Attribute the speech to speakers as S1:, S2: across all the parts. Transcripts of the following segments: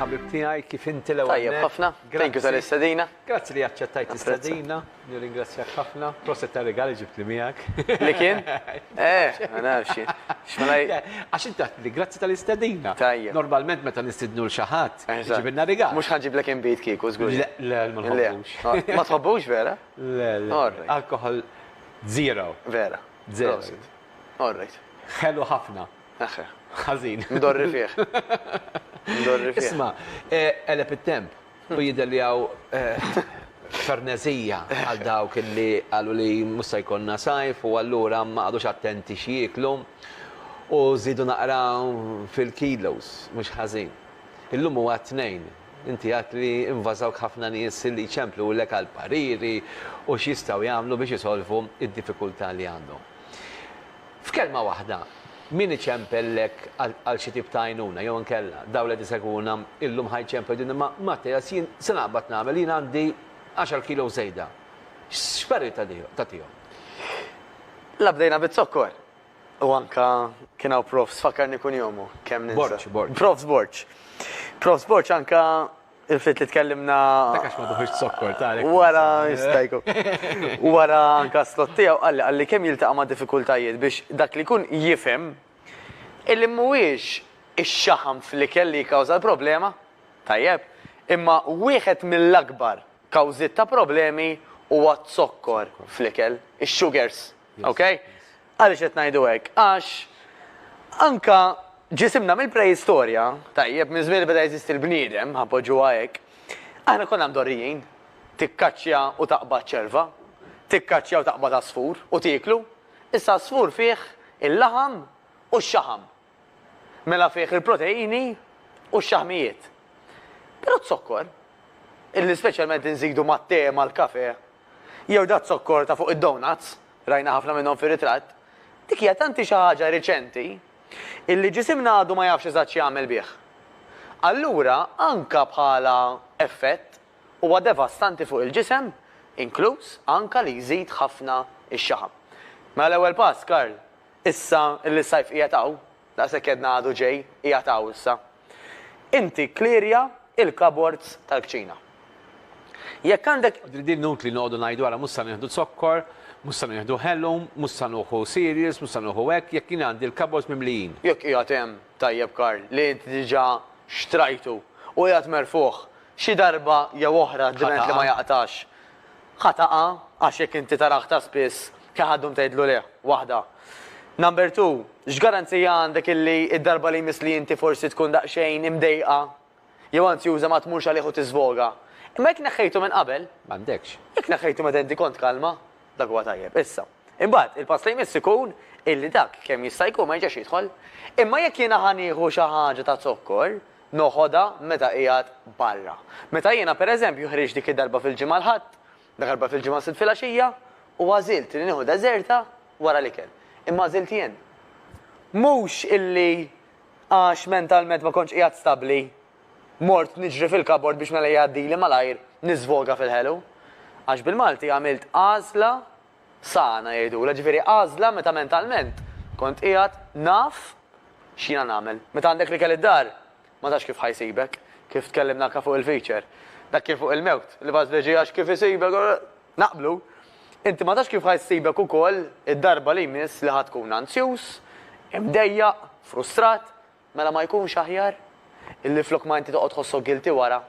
S1: ħabib tiegħi kif inti l-ewwel. Tajjeb ħafna. Thank
S2: you tal-istedina. Grazzi li aċċettajt
S1: istedina. Nirringrazzjak ħafna. Proset ta' regali ġibt li miegħek. Li kien?
S2: Eh, ma nafx.
S1: Għax inti li grazzi tal-istedina. Tajjeb. Normalment
S2: meta nistidnu
S1: l xaħat, ġibinna regali. Mhux ħanġib lek inbid
S2: kieku żgur. Le, ma tħobbux.
S1: Ma tħobbux
S2: vera? Le, le.
S1: Alkohol zero. Vera.
S2: Zero. Prosit.
S1: All
S2: right. Ħelu ħafna.
S1: Eħħe.
S2: Ħażin. Ndorri
S1: fih.
S2: Ndorri fih. Isma,
S1: qeleb it-temp u jidher li hawn ferneżija għal dawk li qalu li mhux se jkollna sajf u allura ma qagħdux attenti x'jieklu u żiedu naqra fil-kilos mhux ħażin. Illum huwa t-Tnejn, Inti għedt li invażawk ħafna nies li jċemplulek għal pariri u x'jistgħu jagħmlu biex isolvu d-diffikultà li għandhom. F'kelma waħda, min iċempellek għal xi tip ta' għajnuna jew inkella dawn li qed isegwuna llum ħa jċemplu jgħidulna ma Mattias jien se naqbad nagħmel, jien għandi għaxar kilos żejda. X'parir tagħtihom?
S2: La bdejna biz-zokkor! U anka kien hawn Profs, fakkarni kun jomu, kemm ninsa. Borċ, Borċ. Profs Borċ.
S1: Profs
S2: Borċ anka il-fit li tkellimna. Takax ma duħiġ
S1: sokkor, ta' Wara, jistajku.
S2: Wara anka slot tiegħu qalli qalli kemm jiltaqa' ma' diffikultajiet biex dak li jkun jifhem illi mhuwiex ix-xaħam fl-ikel li jikkawża l-problema, tajjeb, imma wieħed mill-akbar kawżiet ta' problemi huwa z-zokkor fl-ikel, ix-sugars. Ok? Għaliex qed ngħidu hekk? Għax anke ġisimna mill-preistorja, tajjeb, minn żmien li beda jeżisti l-bniedem, ħa npoġġuha hekk, aħna konna mdorrijin. Tikkaċċja u taqbad ċerva, tikkaċċja u taqbad għasfur u tieklu. Issa għasfur fih il-laħam u x-xaħam. mela fih il-proteini u x-xaħmijiet. Però z-zokkor, illi speċjalment inżidu mat-te, mal-kafè, jew daz-zokkor ta' fuq id-donuts, rajna ħafna minnhom fir-ritratt, dik hija tanti xi ħaġa reċenti illi ġisimna għadu ma jafx eżatt x'jagħmel bih. Allura anka bħala effett huwa devastanti fuq il-ġisem, inkluż anka li jżid ħafna x-xaħam. Mela l-ewwel pass, Karl, Issa li s-sajf qiegħed hawn, daqshekk għedna għadu ġej, qiegħed hawn issa, inti kklirja l-cupboards tal-kċina. Jekk għandek. Din inutli noqogħdu
S1: ngħidu ara mhux se nieħdu zokkor, mhux se nieħdu ħelum, mhux se nuħu cereals, mhux se nuħu hekk, jekk jien għandi l-cupboards mimlijin. Jekk qiegħed hemm,
S2: tajjeb Karl, li inti diġà xtrajtu u qiegħed merfugħ, xi darba jew oħra dment li ma jaqtax, Ħa taqa' għax jekk inti tara aktar spiss kien ħa ddum tgħidlu leh, waħda. Number two, x'garanzija għandek illi d-darba li jmiss li inti forsi tkun daqsxejn imdejqa jew anzjuża ma tmurx għalih u tiżvoga? Imma jekk neħħejtu minn qabel. M'għandekx. Jekk
S1: neħħejtu meta inti
S2: kont kalma, dak huwa tajjeb. Issa. Imbagħad, il-pass li jmiss ikun illi dak kemm jista' jkun ma jerġax jidħol. Imma jekk jiena ħa nieħu xi ħaġa ta' zokkor, noħodha meta qiegħed barra. Meta jiena, per eżempju, ħriġt dik id-darba fil-Ġimgħa l-Ħadd, dakarba fil-Ġimgħa s-Sibt filgħaxija, u għażilt li nieħu deżerta wara l-ikel. Imma għażilt jien. Mhux illi għax mentalment ma kontx qiegħed stabbli, mort niġri fil-kabord biex mela jgħaddili malajr niżvoga fil-ħelu. Għax bil-Malti għamilt għażla Sana jgħidulha, ġifieri għażla meta mentalment kont qiegħed naf x'jiena nagħmel. Meta għandek l-ikel id-dar, ma tafx kif ħa jsibek, kif tkellimna anke fuq il-feature. Dak kien fuq il-mewt, l-ibgħat fl-irġiegħ għax kif isibek, naqblu. Inti ma tafx kif ħa jsibek ukoll id-darba li jmiss li ħa tkun anzjuż, imdejjaq, frustrat, Mela ma jkunx aħjar? Illi flok ma inti toqgħod tħossok guilty wara.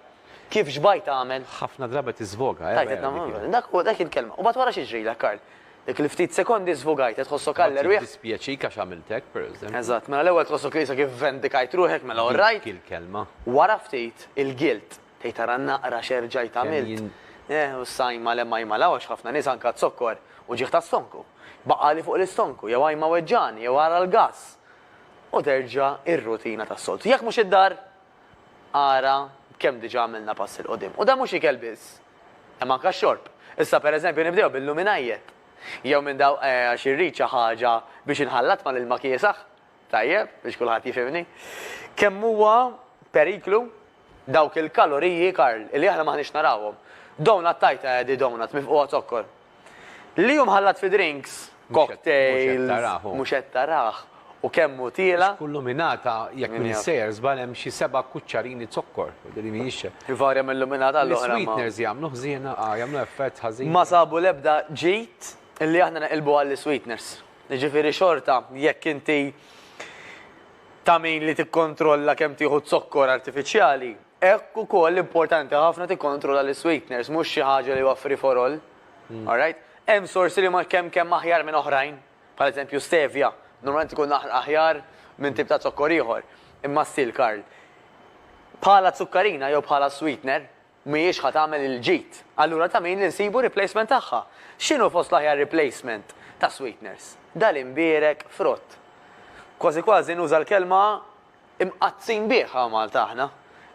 S2: Kif xbajt tagħmel? Ħafna drabi tiżvoga,
S1: eh, vera dik hi. Dak hu, dak
S2: hi l-kelma. U mbagħad wara x'jiġrilek, Karl? Dik il-ftit sekondi żvogajt, qed tħossok għall erwieħ. Mbagħad jiddispjaċik għax għamilt hekk,
S1: per eżempju. Eżatt, mela l-ewwel tħossok
S2: li issa kif vendikajt ruħek, mela all right. Dik hi l-kelma. Wara
S1: ftit,
S2: il-guilt. Tgħid ara naqra x'erġajt għamilt. Eh, u issa ajma l-hemm ajma l-hawn għax ħafna nies anke għad-zokkor u ġieħ tas-stonku. Baqgħali fuq l-istonku, jew ajma weġġagħni, jew ara l-gass. u terġa' r-rutina tas-soltu. Jekk mhux id-dar, ara b'kemm diġà għamilna pass 'il quddiem. U dan mhux ikel biss, hemm anke x-xorb. Issa pereżempju nibdew bil-luminajjet. Jew minn dawk eh għax irrid xi ħaġa biex inħallat mal-ilma kiesaħ, tajjeb, biex kulħadd jifhimni. Kemm huwa periklu Dawk il-kaloriji, Karl, li aħna m'aħniex narawhom. Donut tajta Eddie donut mifqugħa zokkor. Li hu mħallat fi drinks, cocktails, mhux qed tarah u kemm hu tiela'. Għax kull luminata,
S1: jekk m'iniex sejjer żball hemm xi
S2: seba'
S1: kuċċarini zokkor. Din mhijiex. Ivarja minn luminata
S2: għal oħra imma. L-isweeteners jagħmlu ħżiena,
S1: jagħmlu effett ħażin. Ma sabu l-ebda
S2: ġid li aħna neqilbu għall-isweeteners. Jiġifieri xorta jekk inti ta' min li tikkontrolla kemm tieħu zokkor artifiċjali, hekk ukoll importanti ħafna tikkontrolla l-isweeteners, mhux xi ħaġa li huwa free for all. Alright? Hemm sorsi li ma kemm kemm aħjar minn oħrajn, bħal eżempju stevia, normalment ikun aħjar minn tip ta' zokkor ieħor. Imma still Karl, bħala zukkarina jew bħala sweetener, Mhijiex ħa tagħmel il-ġid. Allura ta' min li nsibu replacement tagħha? X'inhu fost l-aħjar replacement ta' sweeteners? Dal-imbierek frott. Kważi kważi nuża l-kelma imqaddsin bih hawn Malta aħna.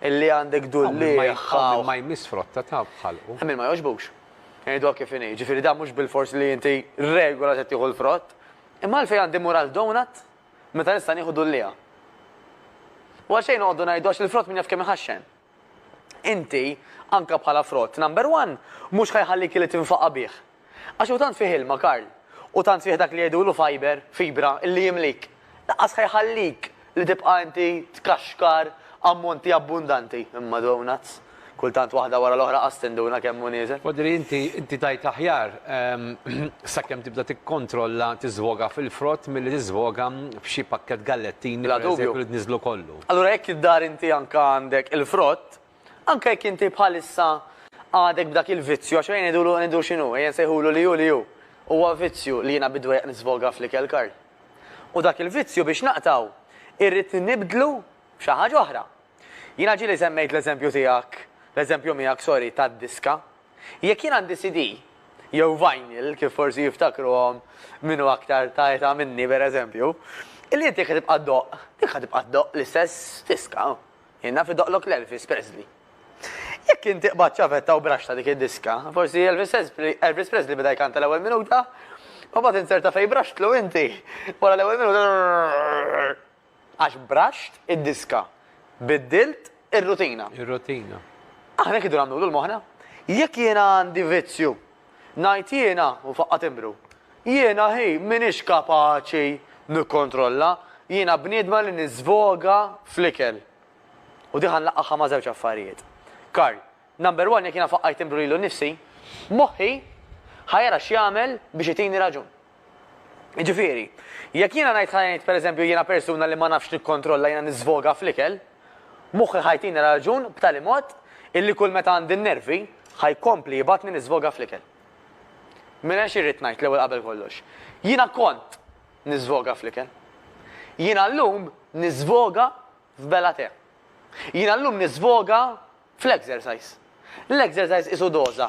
S2: Illi għandek dulliegħ. Hawn min ma jmiss frotta
S1: ta' b'ħalqu. Hemm min ma jogħġbux.
S2: Ngħiduha kif inhi. Jiġifieri dan mhux bilfors li inti regola se tieħu l-frott. Imma għalfejn għandi mmur għal donut meta nista' nieħu dulliegħa? U għalxejn noqogħdu ngħidu għax il-frott min jaf kemm iħaxxen. Inti, anke bħala frott number one, mhux ħa jħallik illi tinfaqa' bih. Għax hu tant fih ilma, Karl, u tant fih dak li jgħidulu fiber, fibra, illi jimlik. Lanqas ħa jħallik li tibqa' inti tkaxkar ammonti abbundanti. Imma donuts! Kultant waħda wara l-oħra qas tinduna kemm hu nieżel. Odri, inti, inti
S1: tgħid l-aħjar, sakemm tibda tikkontrolla tiżvoga fil-frott milli tiżvoga f'xi pakkett gallettini, pereżempju, li tniżżlu kollu. Allura jekk id-dar inti
S2: anke għandek il-frott, anke jekk inti bħalissa għadek b'dak il-vizzju, għax ejja ngħidulu, ngħidu x'inhu, ejja nsejħulu li hu li hu, huwa vizzju li jiena bid-dwejjaq nisfoga fl-ikel, Karl. U dak il-vizzju biex naqtgħu irrid nibdlu b'xi ħaġa oħra. Jiena ġieli semmejt l-eżempju tiegħek, l-eżempju miegħek, sorry, tad-diska. Jekk jien għandi CD, jew vinyl, kif forsi jiftakruhom min hu aktar ta' età minni pereżempju, li inti jekk ħa tibqa' ddoqq, dik ħa tibqa' ddoqq l-istess diska. Jien naf idoqqlok l-Elvis Presley. Jekk inti qbadt ċavetta u braxxta dik id-diska, forsi Elvis Presley beda jkanta l-ewwel minuta, u mbagħad inzerta fejn braxxtlu inti, wara l-ewwel minuta. Għax braxt id-diska. Biddilt ir-rutina. Ir-rutina.
S1: Aħna hekk idu
S2: nagħmlu lul moħħna. Jekk jiena għandi vizzju, ngħid jiena, u faqqa' timbru. Jiena hi m'iniex kapaċi nikkontrolla, jiena bniedma li niżvoga fl-ikel. U di ħa nlaqqagħha ma' żewġ affarijiet. Karl, Number one jekk jiena faqqajt timbru lilu nnifsi, moħħi ħa jara x'jagħmel biex itini raġun. Jiġifieri, jekk jiena ngħid ħa ngħid pereżempju jiena persuna li ma nafx nikkontrolla jiena niżvoga fl-ikel, moħħi ħa jtini raġun b'tali mod illi kull meta għandi n-nervi ħa jkompli jibgħatni niżvoga fl-ikel. Mela xi rrid ngħid l-ewwel qabel kollox? Jiena kont niżvoga fl-ikel. Jiena llum niżvoga f'bela tè. Jiena llum niżvoga fl-exercise. L-exercise qisu doża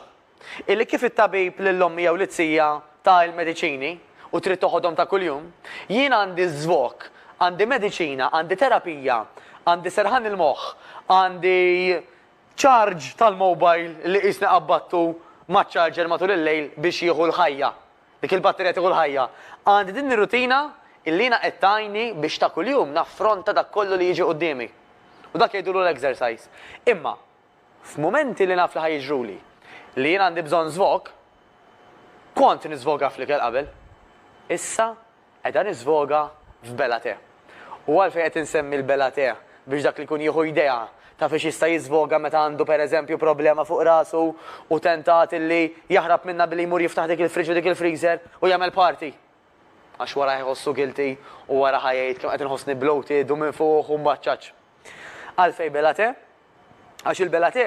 S2: Illi kif it-tabib lil ommi jew lit-tija ta il-mediċini u trid toħodhom ta' kuljum, jien għandi żvok, għandi mediċina, għandi terapija, għandi serħan il-moħħ, għandi charge tal-mobile li qisni qabbattu maċ-charger matul il-lejl biex jieħu l-ħajja, dik il-batterija tieħu l-ħajja. Għandi din ir-rutina illi jiena qed tgħinni biex ta' kuljum naffronta dak kollu li jiġi quddiemi. U dak jgħidulu l-exercise. Imma, F'mumenti li naf li ħa jiġruli li jien għandi bżonn żvog, kont niżvoga fl-ikel qabel. Issa qiegħda niżvoga f'bela te. U għalfejn qed insemmi l-bela te biex dak li jkun jieħu idea ta' fiex jista' jiżvoga meta għandu pereżempju problema fuq rasu u tentat illi jaħrab minnha billi jmur jiftaħ dik il-fridge u dik il-freezer u jagħmel party. Għax wara ħa jħossu guilty u wara ħa jgħid kemm qed inħossni bloated u minfuħ u mbaċċaċ. Għalfejn bela te? Għax il-Bellaté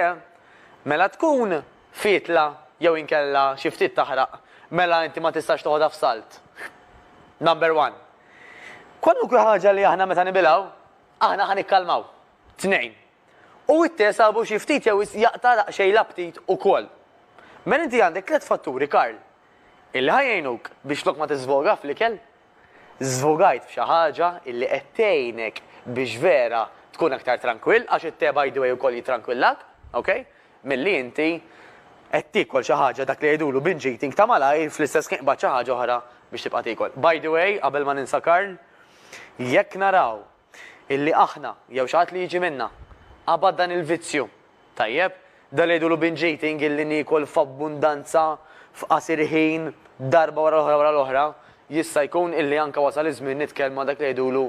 S2: mela tkun fietla jew inkella xi ftit taħraq mela inti ma tistax toħodha f'salt. Number one. Kwalunkwe ħaġa li aħna meta nibilgħu, aħna ħa nikkalmaw. Tnejn. U it-te sabu xi ftit jew wisq jaqta' daqsxejn l-aptit ukoll. Mela inti għandek tliet fatturi Karl illi ħa jgħinuk biex flok ma tiżvoga fl-ikel, Żvugajt f'xi ħaġa illi qed tgħinek biex vera tkun aktar trankwill, għax it-te by the way ukoll jitrankwillak, ok, milli inti qed tiekol xi ħaġa dak li jgħidulu binge eating ta' malajr fl-istess ħin qbadt xi ħaġa oħra biex tibqa' tiekol. By the way, qabel ma ninsa Karl, jekk naraw illi aħna, jew xi ħadd li jiġi minna, qabad dan il-vizzju. Tajjeb? Dan li jgħidulu binge eating illi niekol f'abbundanza f'qasir ħin darba wara l-oħra wara l-oħra, jista' jkun illi anke wasal iż-żmien nitkellmu ma' dak li jgħidulu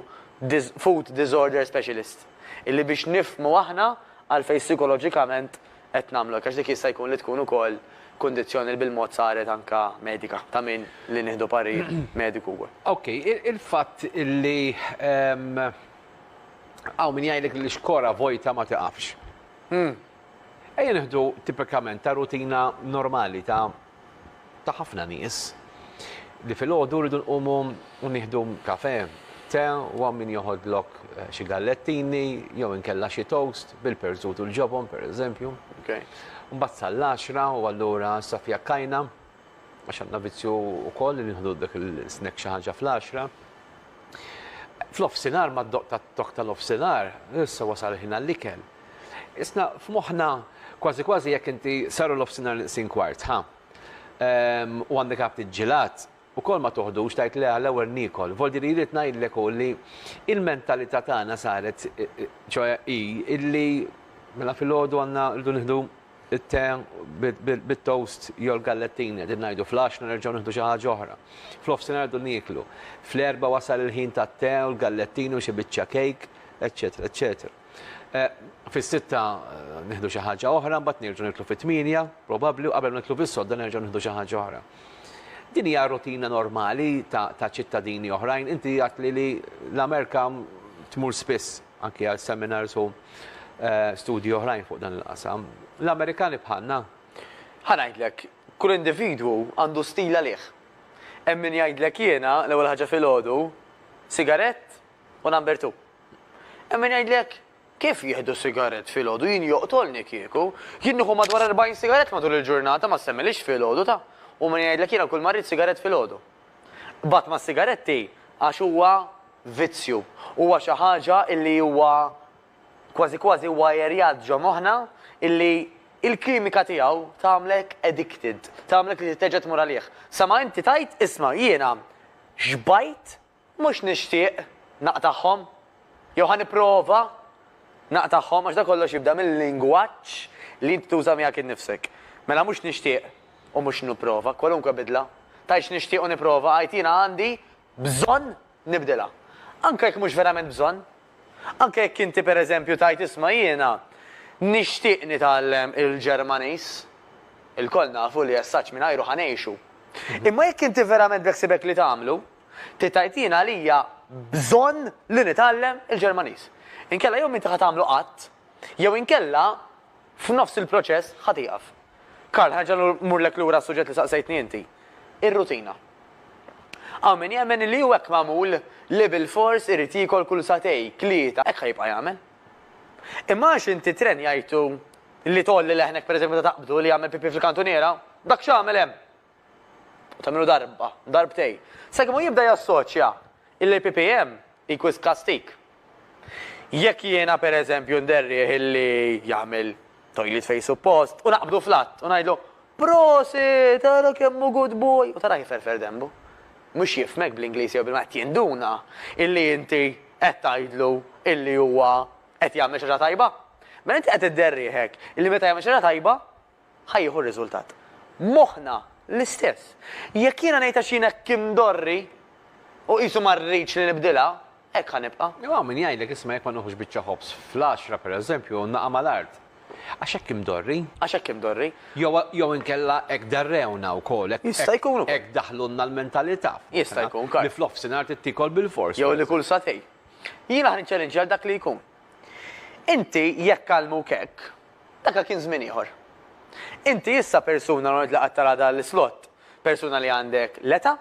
S2: food disorder specialist. Illi biex nifhmu aħna għalfejn sikoloġikament qed nagħmlu hekk għax dik jista' jkun li tkun ukoll kundizzjoni li bil-mod saret anke medika ta' min li nieħdu parir mediku wkoll. Ok, il-fatt
S1: li hawn min jgħidlek li xkora vojta ma tiqafx. Ejja nieħdu tipikament ta' rutina normali ta' ta' ħafna nies li filgħodu rridu nqumu u nieħdu kafè, te u hawn min joħodlok xi gallettini jew inkella xi toast bil-perżut u l-ġobon, pereżempju. Mbagħad sal-għaxra u allura issa fiha kajna għax għandna vizzju wkoll li nieħdu dak il-snack xi ħaġa fl-għaxra. F'nofsinhar mad-doqq tat-tokk tal-nofsinhar issa wasal il-ħin għall-ikel. Isna' f'moħħna kważi kważi jekk inti saru l-ofsinhar nqsin kwart, ħa? Ehm, u għandek għabt iġġilat, ukoll ma toħdux tgħid le għall-ewwel niekol. Voldi li rrid ngħidlek hu li l-mentalità tagħna saret, ċoe hi illi mela filgħodu għandna rridu nieħdu it-te bit-toast jew l-gallettini, qegħdin ngħidu fl-għaxna nerġgħu nieħdu xi ħaġa oħra. Fl-ofsinhar rridu nieklu. Fl-erbgħa wasal il-ħin tat-te u l-gallettini u xi biċċa kejk, eċċetera, eċċetera. Fis-sitta nieħdu xi ħaġa oħra, mbagħad nerġgħu niklu fit-tmienja, probabbli, u qabel ma niklu fis-sodda nerġgħu nieħdu xi ħaġa oħra. Din hija rutina normali ta' ċittadini oħrajn. Inti għadtli li l-Amerika tmur spiss anki għal seminars u eh, studji oħrajn fuq dan il-qasam. L-Amerikani bħalna. Ħanajdlek,
S2: kull individwu għandu stil għalih. Hemm min jgħidlek jiena l-ewwel ħaġa filgħodu, sigarett u number two. Hemm min jgħidlek, Kif jieħdu sigarett filgħodu? Jien joqtolni kieku. Jien nieħu madwar 40 sigarett matul il-ġurnata, ma ssemmilix filgħodu ta'. U min jgħidlek jiena kulma rrid sigarett filgħodu. B'għadd mas-sigaretti għax huwa vizzju. Huwa xi ħaġa illi huwa kważi kważi wwajerjat ġo moħħna illi il-kimika tiegħu tagħmlek addicted, tagħmlek li trid terġa' tmur għalih. Sa ma inti tgħid, isma' jiena xbajt Mhux nixtieq naqtagħhom, jew ħa nipprova naqtagħhom, għax dan kollox jibda mil-lingwaġġ li int tuża miegħek innifsek. Mela mhux nixtieq u mhux nipprova, kwalunkwe bidla, tgħidx nixtieq u nipprova, għid jiena għandi bżonn nibdilha. Anke jekk mhux verament bżonn. Anke jekk inti pereżempju tgħid isma' jiena nixtieq nitgħallem il-Ġermaniż. Ilkoll nafu li as-saġġ mingħajru ħa ngħixu. Imma jekk inti verament beħsiebek li tagħmlu, Trid tgħid jien għalija bżonn li nitgħallem il-Ġermaniż. Inkella jew m'inti ħa tagħmlu qatt, jew inkella f'nofs il-proċess ħa tieqaf. Karl, ħa nerġa' mmurlek lura għas-suġġett li saqsejtni inti. Ir-rutina. Hawn min jemmen li hu hekk magħmul li bilfors irid jiekol kull sagħtej, tlieta, hekk ħa jibqa' jagħmel. Imma għax inti ttrenjajtu li tgħolli leħnek pereżempju meta taqbdu li jagħmel pipì fil-kantuniera, dak x'għamel hemm? u tagħmilu darba, darbtejn, sakemm hu jibda jassoċja illi l-PPM hi wisq kastig. Jekk jiena pereżempju nderrieh illi jagħmel toilet fejn suppost u naqbdu fl-att u ngħidlu, Prosit, ara kemm hu good boy! u tarah iferfer denbu. Mhux jifhmek bl-Ingliż jew bil-Malti, jinduna illi inti qed tgħidlu illi huwa qed jagħmel xi ħaġa tajba. Mela inti qed idderrieh hekk illi meta jagħmel xi ħaġa tajba, ħa jieħu r-riżultat. Moħħna l-istess. Jekk jiena ngħid għax jien hekk imdorri u qisu ma rridx li nibdilha, hekk ħa nibqa'. Jew hawn min jgħidlek isma'
S1: jekk ma nieħux biċċa ħobż fl-għaxra, pereżempju, u naqa' mal-art. Għax hekk imdorri. Għax hekk imdorri.
S2: Jew jew inkella
S1: hekk darrewna wkoll, hekk Jista' jkun ukoll. hekk
S2: daħlulna l-mentalità.
S1: Jista' jkun ukoll. Li
S2: fl-offsinhar trid tiekol
S1: bil-fors. Jew li kull sagħtejn.
S2: Jiena ħa niċċalinċja lil dak li jkun. Inti jekk għallmuk hekk, Daka kien żmien ieħor. Inti issa persuna l-għonqt li qatt tara dan l-islott, persuna li għandek l-eta',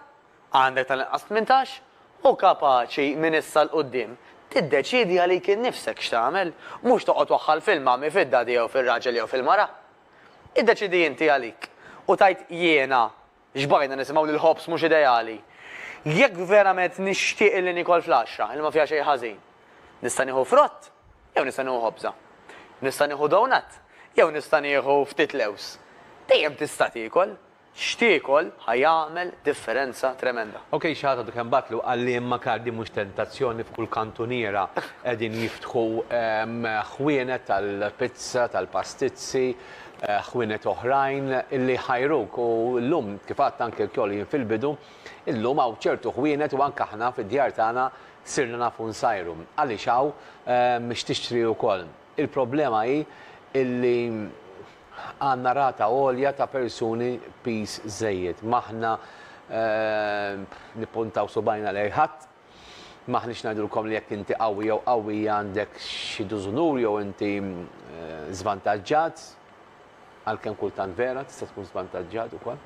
S2: għandek tal-inqas tmintax, u kapaċi minn issa 'l quddiem tiddeċiedi għalik innifsek x'tagħmel, mhux toqgħod waħħal fil-mommy, fid-daddy jew fir-raġel jew fil-mara. Iddeċiedi inti għalik u tgħid jiena Xbajna nisimgħu li l-ħobż mhux ideali. Jekk verament nixtieq illi niekol flaxxa illi ma fiha xejn ħażin, nista' nieħu frott jew nista' nieħu ħobża? Nista' nieħu donut jew nista' nieħu ftit lewż? Dejjem tista' tiekol. X'tiekol ħa jagħmel differenza tremenda. Ok xi ħadd għadu kemm
S1: bagħatlu qalli imma Karl din mhux tentazzjoni f'kull kantuniera qegħdin jiftħu ħwienet tal-pizza, tal-pastizzi, ħwienet oħrajn li jħajruk u llum kif għadt anke lkoll jien fil-bidu, illum hawn ċertu ħwienet u anke aħna fid-djar tagħna sirna nafu nsajru. Għaliex hawn x'tixtri wkoll. Il-problema hi illi għandna rata għolja ta' persuni piż żejjed. M'aħna nippuntaw subgħajna lejn ħadd, M'aħniex ngħidulkom li jekk inti qawwi jew qawwija għandek xi dużunur jew inti żvantaġġat, għalkemm kultant vera tista' tkun żvantaġġat ukoll.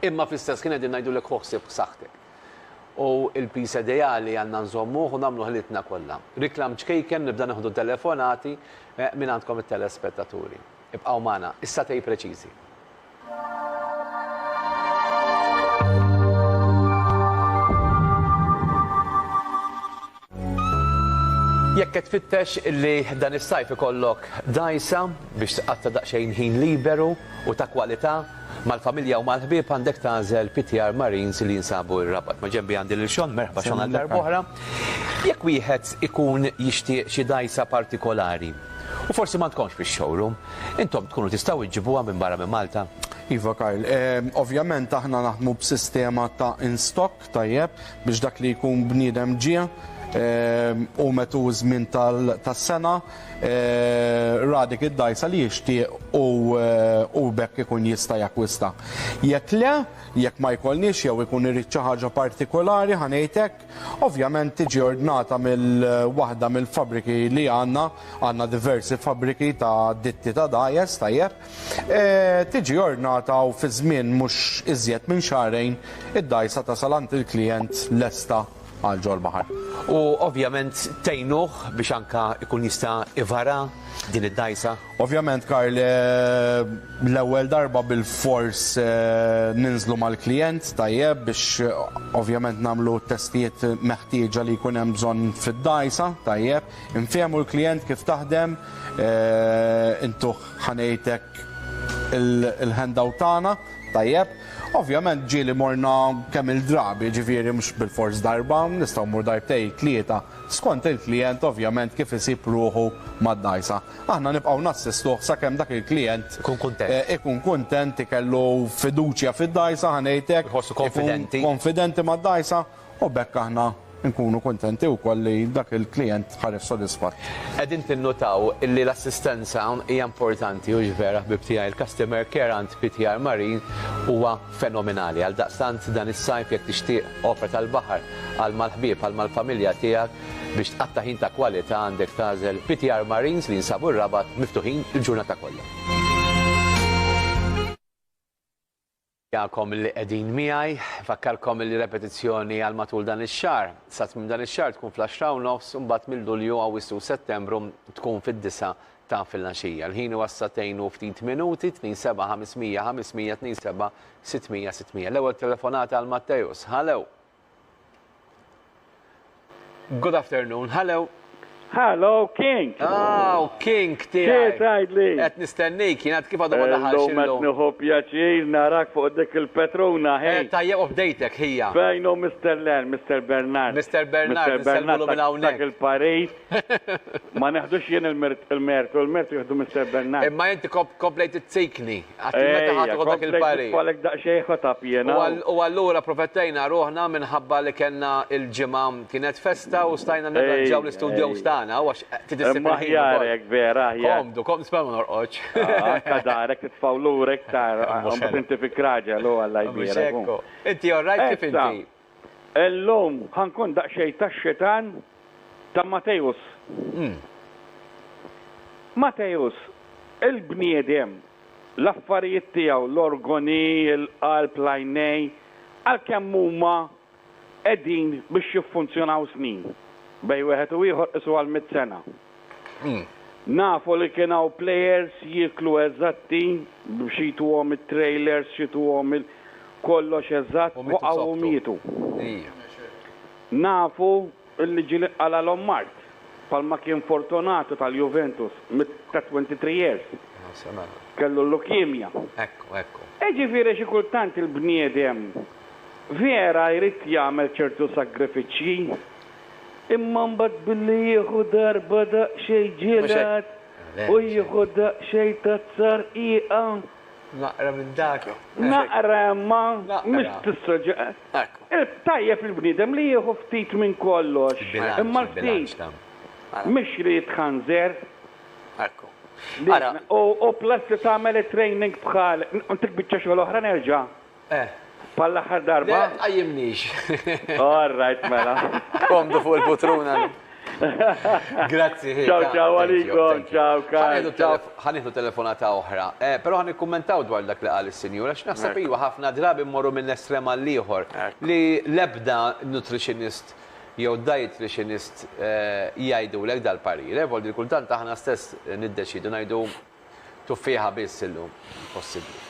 S1: Imma fl-istess ħin qegħdin ngħidulek ħu ħsieb b'saħħtek. U l-piż ideali għandna nżommuh u nagħmlu ħilitna kollha. Reklam ċkejken nibda nieħdu telefonati minn għandkom it-telespettaturi. Ibqgħu magħna, is-satej preċiżi. Jekk qed tfittex li dan is-sajf ikollok dgħajsa biex tqatta' daqsxejn ħin liberu u ta' kwalità mal-familja u mal-ħbieb għandek tagħżel PTR Marines li jinsabu r-Rabat. Ma ġenbi għandi lil Xon, merħba Xon għal darb'oħra. Jekk wieħed ikun jixtieq xi dgħajsa partikolari, U forsi m'għandkomx fix-showroom. Intom tkunu tistgħu iġġibuha minn barra minn Malta? Iva Karl,
S3: ovvjament aħna naħdmu b'sistema ta' in stock tajjeb biex dak li jkun bniedem ġie u metu ż-żmien tas-sena ra dik id-dgħajsa li jixtieq u b'hekk ikun jista' jakkwista. Jekk le, jekk ma jkollniex jew ikun irid xi ħaġa partikolari ħa ngħid hekk, Ovvjament tiġi ordnata mill-waħda mill-fabbriki li għandna, għandna diversi fabbriki ta' ditti ta' dajes, tajjeb, e, tiġi ordnata u fi żmien mhux iżjed minn xahrejn id-dgħajsa tasal għand il-klijent lesta għal ġol-baħar. U ovvjament
S1: tgħinuh biex anke jkun jista' ivara din id-dgħajsa? Ovvjament Karl,
S3: l-ewwel darba bilfors ninżlu mal-klijent, tajjeb, biex ovvjament nagħmlu t-testijiet meħtieġa li jkun hemm bżonn fid-dgħajsa, tajjeb. Infehmu l-klijent kif taħdem, intuh ħa ngħid hekk il-handout tagħna, tajjeb. Ovvjament ġieli morna kemm-il drabi, jiġifieri mhux bilfors darba, nistgħu mmur darbtejn, tlieta, skont il-klijent ovvjament kif isib ruħu mad-dgħajsa. Aħna nibqgħu nassistuh sakemm dak il-klijent ikun kuntent, ikellu fiduċja fid-dgħajsa, ħa ngħid hekk, ikun konfidenti mad-dgħajsa, u b'hekk aħna nkunu kuntenti wkoll li dak il-klijent ħareġ sodisfatt. Qegħdin tinnutaw
S1: li l-assistenza hija importanti, hux vera, ħbieb tiegħi? Il-customer care għand PTR Marine huwa fenomenali. Għaldaqstant, dan is-sajf, jekk tixtieq opra tal-baħar għal mal-ħbieb, għal mal-familja tiegħek, Biex tqatta' ħin ta' kwalità għandek tagħżel PTR Marines li jinsabu r-Rabat miftuħin il-ġurnata kollha. Nirringrazzjakom li qegħdin miegħi. Nfakkarkom li repetizzjoni għal matul dan ix-xahar. Sa tmiem dan ix-xahar tkun fl-10:30 u mbagħad minn Lulju, Awwissu u Settembru tkun fid-disgħa ta' filgħaxija. Il-ħin huwa s-sagħtejn u ftit minuti, 27 500 500, 27 600 600. L-ewwel telefonata għal Matteus. Hallo! Good afternoon, hello. Hello,
S4: King. Ah, u King
S1: tiegħi. Kif tgħidli?
S4: Qed nistennik,
S1: jien għad kif għadu ma daħalx. Illum qed nieħu
S4: pjaċir narak fuq dik il-Petruna ħin. Eh, tajjeb u bdejtek
S1: ħija. Fejn u Mr.
S4: Len, Mr. Bernard. Mr. Bernard, Mr.
S1: Bernard minn hawnhekk. Il-Paris.
S4: Ma neħdux jien il-mertu, il-mertu jieħdu Mister Bernard. Imma inti komplejt
S1: izzikni, għad meta ħadd iħu dak il-parir. Ejja, komplejt daqsxejn ħotab
S4: jiena. U allura
S1: protettejna ruħna minħabba li kellna il-ġimgħa kienet festa u stajna nirranġaw l-istudjows tagħna għax ftit isib il-ħin. Aħjar
S4: hekk vera, aħjar. Komdu, komdu, nisma' ma
S1: norqodx. Anke darek
S4: titfgħu lura iktar, inti fi kraġel u Alla jbierek. Inti all
S1: right kif inti? Illum
S4: ħa nkun daqsxejn tax-xitan ta' Matteus. Matteus, il-bniedem, l-affarijiet tiegħu, l-organi, il-qalb, l-għajnejn, għalkemm huma qegħdin biex jiffunzjonaw snin, bejn wieħed u ieħor qisuha l-mitt sena. Nafu li kien hawn players jieklu eżatti biex jituhom it-trailers xituhom il kollox eżatt waqgħu u mietu. Nafu li ġieli qalalhom mard bħalma kien Fortunato tal-Juventus ta' 23 years kellu l-leukemia.
S1: Iġifieri xi
S4: kultant il-bniedem vera jrid jagħmel ċertu sagrifiċċji Imma mbagħad billi jieħu darba daqsxejn ġielat u jieħu daqsxejn tat-tsarrqiqa. Naqra
S1: minn dak. Naqra imma
S4: mhux tissoġġa. Tajjeb il-bniedem li jieħu ftit minn kollox, imma l-ftit mhux li jitħanżer. Ekku.
S2: Ara. U
S4: plus li tagħmel it-training bħal dik biċċa xogħol oħra nerġa'. Eh. Bħal l-aħħar darba? Le, tqajjimnix.
S1: All right,
S4: mela. Komdu fuq
S2: il-putruna.
S1: Grazzi, ħi. Ciao, ciao,
S4: għalikom, ciao, ciao. Ħaniħdu telefonata
S1: oħra. Eh, Pero ħan ikkummentaw dwar dak li qal il-sinjura, x'naħseb iwa ħafna drabi mmorru minn estrem għall-ieħor li lebda nutritionist jew dietitianist eh, jgħidu l dal-parir. Evoldi eh, kultant aħna stess niddeċidu ngħidu Tuffieħa biss illum. Impossibbli.